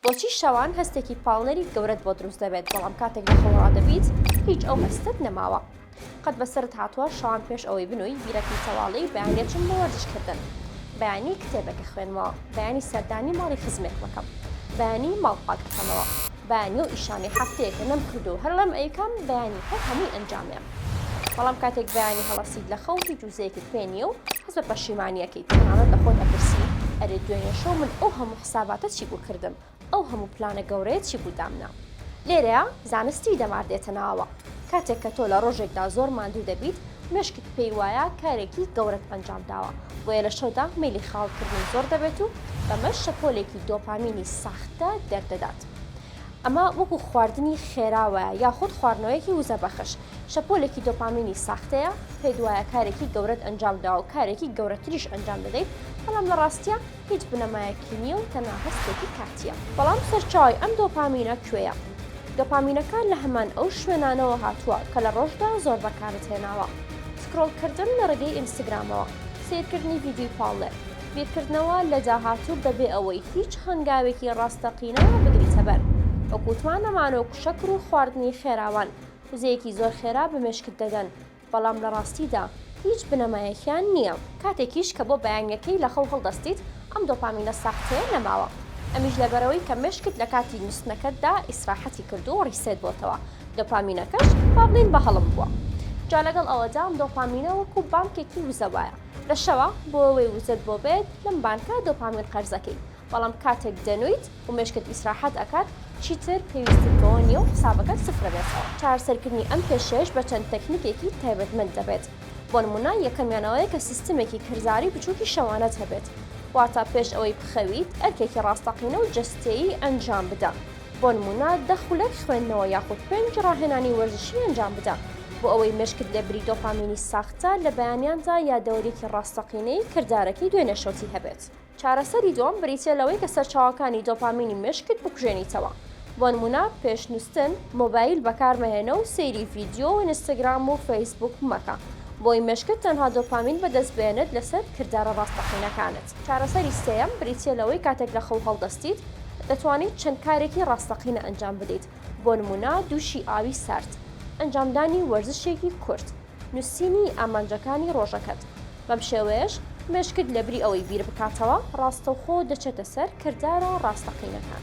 بۆچی شەوان هەستێکی پاڵنەری گەورەت بۆ دروست دەبێت بەڵام کاتێک لە خۆڵا دەبیت هیچ ئەو هەستت نەماوە قەت بەسرت هاتووە شەوان پێش ئەوەی بنووی بیرەکەی تەواڵی بەیانێچم بۆ وەرزشکردن بەیانی کتێبێکە خوێنمەوە بەیانی سەردانی ماڵی خزمێک مەکەم بەیانی ماڵ پاک بکەمەوە بەیانی و ئیشانەی هەفتەیەکە نەم کردو هەر ڵێم ئەیکەم بەیانی هەر هەمووی ئەنجامێم بەڵام کاتێک بەیانی هەڵەسیت لە خەو هیچ وزەیەکت پێ نییە و هەست بە پەشیمانیەکەی تەنانەت لە خۆت ئەپرسی ئەرێ دوێنێ شەو من ئەو هەموو حساباتە چی بوو کردم، ئەو هەموو پلانە گەورەیە چی بوو دامنا؟ لێرەیا زانستی دەمار دێتە ناوەوە، کاتێک کە تۆ لە ڕۆژێکدا زۆر ماندوو دەبیت، مێشکت پێی وایە کارێکی گەورەت ئەنجام داوە، بۆیە لە شەودا مەیلی خەیاڵ کردن زۆر دەبێت و بەمەش شەپۆلێکی دۆپامینی ساختە دەردەدات. ئەمە وەکو خواردنی خێرا وایە یاخود خواردنەوەیەکی وزە بەخش، شەپۆلێکی دۆپامینی ساختەیە، پێت وایە کارێکی گەورەت ئەنجام داوە و کارێکی گەورەتریش ئەنجام دەدەیت، بەڵام لە ڕاستیا، هیچ بنەمایەکی نییە و تەنها هەستێکی کاتییە. بەڵام سەرچاوەی ئەم دۆپامینە کوێیە؟ دۆپامینەکە لە هەمان ئەو شوێنانەوە هاتووە کە لە ڕۆژدا زۆر بەکارت هێناوە، سکرۆڵکردن لە ڕێگەی ئینستگرامەوە، سەیرکردنی ڤیدیۆی پاڵنەر، بیرکردنەوە لە داهاتوو بەبێ ئەوەی هیچ هەنگاوێکی ڕاستەقینە بگریتە بەر، وەکو توانەمانۆک و شەکر و خواردنی خێراوان، وزەیەکی زۆر خێرا بە مێشکت دەدەن. بەڵام لە ڕاستیدا هیچ بنەمایەکیان نییە. کاتێکیش کە بۆ بەیانییەکەی لە خەو هەڵدەستیت، ئەم دۆپامینە ساختەیە نەماوە. ئەمیش لەبەرئەوەی کە مێشکت لە کاتی نووستنەکەتدا ئیسراحەتی کردووە و ڕیسێت بۆتەوە، دۆپامینەکەش با بڵێین بە هەڵم بووە. جا لەگەڵ ئەوەدا ئەم دۆپامینە وەکو بانکێکی وزە وایە. لە شەوا بۆ ئەوەی وزەت بۆ بێت، لەم بانکە دۆپامین قەرزەکەی. بەڵام کاتێک دەنویت و مێشکت ئیسراحەت ئەکات چیتر پێویستیت بەوە نیە و حسابەکەت سفرەبێتەوە. چارەسەرکردنی ئەم کێشەیەش بە چەند تەکنیکێکی تایبەتمەند دەبێت، بۆ نمونە یەکەمیان ئەوەیە کە سیستمێکی کەرزاری بچوکی شەوانەت هەبێت واتە پێش ئەوەی بخەویت ئەرکێکی ڕاستەقینە و جەستەیی ئەنجام بدە بۆ نمونە دە خولەک خوێندنەوە یاخود پێنج ڕاهێنانی وەرزشی ئەنجام بدە بۆ ئەوەی مێشکت لە بری دۆپامینی ساختە لە بەیانیاندا یادەوەریەکی ڕاستەقینەی کردارەکەی دوێنێ شەوتی هەبێت. چارەسەری دووەم بریتییە لەوەی کە سەرچاوەکانی دۆپامینی مێشکت بکوژێنیتەوە. بۆنموونە پێش نووستن مۆبایل بەکارمەهێنە و سەیری ڤیدیۆ و ئینستاگرام و فەیسبووک مەکە بۆی مێشکت تەنها دۆپامین بەدەست بێنێت لەسەر کردارە ڕاستەقینەکانت. چارەسەری سێیەم بریتییە لەوەی کاتێک لە خەو هەڵدەستیت دەتوانیت چەند کارێکی ڕاستەقینە ئەنجام بدەیت بۆنموونە دووشی ئاوی سارد، ئەنجامدانی وەرزشێکی کورت، نووسینی ئامانجەکانی ڕۆژەکەت. بەم شێوەیەش مێشکت لە بری ئەوەی بیر بکاتەوە ڕاستەوخۆ دەچێتە سەر کردارە ڕاستەقینەکان.